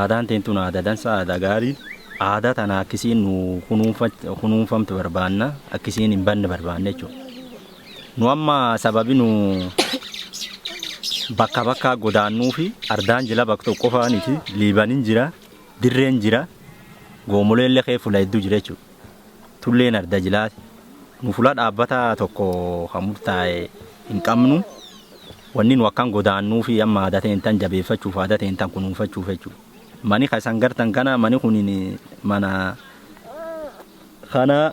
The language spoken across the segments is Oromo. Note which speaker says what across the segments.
Speaker 1: Aadaan teen tun aadaa dansaa aadaa gaarii aadaa tana akkisiin nu kunuunfamtu barbaanna akkisiin hin banne barbaanna jechuudha. Nu amma sababi nu bakka bakkaa godaannuufi ardaan jila bak tokko faaniti liibanin jira dirreen jira goomoleelle kee fula hedduu jira jechuudha. Tulleen arda jilaati. Nu fula dhaabbataa tokko kan murtaa'e hin qabnu. Wanni nu akkan godaannuufi amma aadaa ta'een tan jabeeffachuuf aadaa ta'een tan kunuunfachuuf jechuudha. Mani kan isan gartan kana mani kun mana kana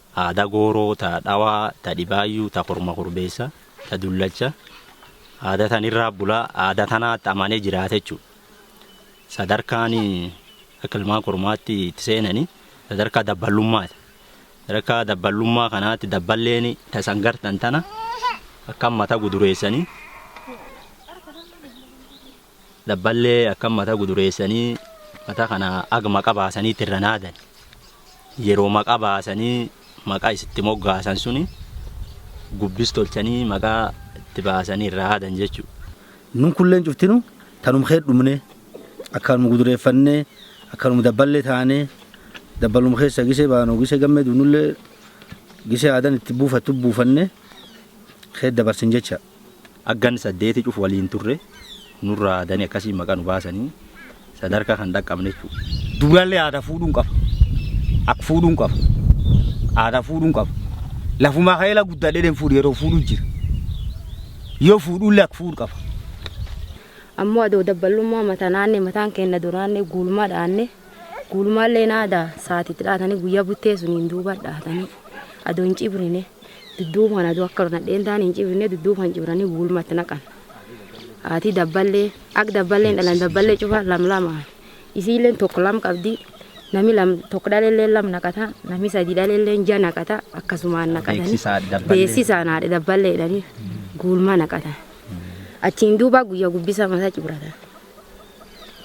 Speaker 1: Aadaa gooroo ta dhawaa, ta dhibaayyuu, ta korma korbeessa, ta dullacha, aadaa tan irraa bulaa aadaa tanaatti amanee jiraata jechuudha. Sadarkaan akka ilmaan kormaatti itti seenani sadarkaa dabballummaati. Sadarkaa dabballummaa kanaatti dabballeen tasan gartan tana akka mata gudureessanii Labballee akkam mata gudureessanii mata kana ag maqa baasaniitti irra naadan. Yeroo maqa baasanii maqa isitti moggaasan suni gubbis tolchanii maqa itti baasanii irra haadan jechuudha. Nun kulleen
Speaker 2: cuftinu tanum kee dhumnee akkanum gudureeffannee akkanum dabballee taanee dabbalum keessa gisee baanoo gisee gammee duunullee gisee aadan itti buufattu buufannee kee dabarsin jecha. Aggan saddeeti
Speaker 1: cuf waliin turre nurraa adani akkasiin maqa nu baasani sadarka kan dhaqqabne jechuu. Duralle aada
Speaker 3: fuudhun qaba ak fuudhun qaba aada fuudhun qaba lafumaa ka'ee la guddadhelen fuudhe yeroo fuudhu jira yoo fuudhulle ak fuudh qaba.
Speaker 4: Ammoo adoo dabballummaa matanaanne mataan keenna duraanne guulmaa dhaanne guulmaalleen aada saatitti dhaatanii guyyaa buttee suniin duuba dhaatanii adoo hin cibrine Dudduuba kana adoo akka nadheen taan hin cibifne dudduuba kan cibranii guulma itti naqan. Haatii dabballee akka dabballee hin dhalan dabballee cufa lam lamaan. Isiilleen tokko lam qabdi nami lam tokko dhaleellee lam naqata nami sadii dhaleellee ja naqata akkasumaan naqatanii Beeksisaa dabballee. beeksisaan haadha dabballee jedhanii guulma naqatan. Achiin duuba guyyaa gubbisa mataa cibratan.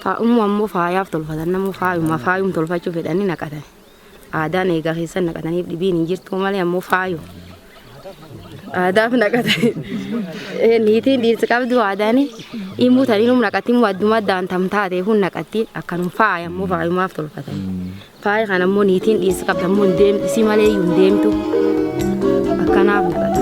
Speaker 4: Faa'ummaa ammoo faayaaf tolfatan namuu faayuma faayum tolfachuu fedhanii naqatan. Aadaan eegaa keessan naqataniif dhibiin hin jirtuu malee ammoo faayo. Aadaaf naqatanii Eh, niitiin dhiirti qabdu aadaan immoo tanii num naqatti immoo adduma addaan tam taatee kun naqatti akkanum faaya ammoo faayumaaf tolfatan. Faaya kana ammoo niitiin dhiirti qabdu ammoo hin deemtu isii malee iyyuu hin deemtu. Akkanaaf naqata.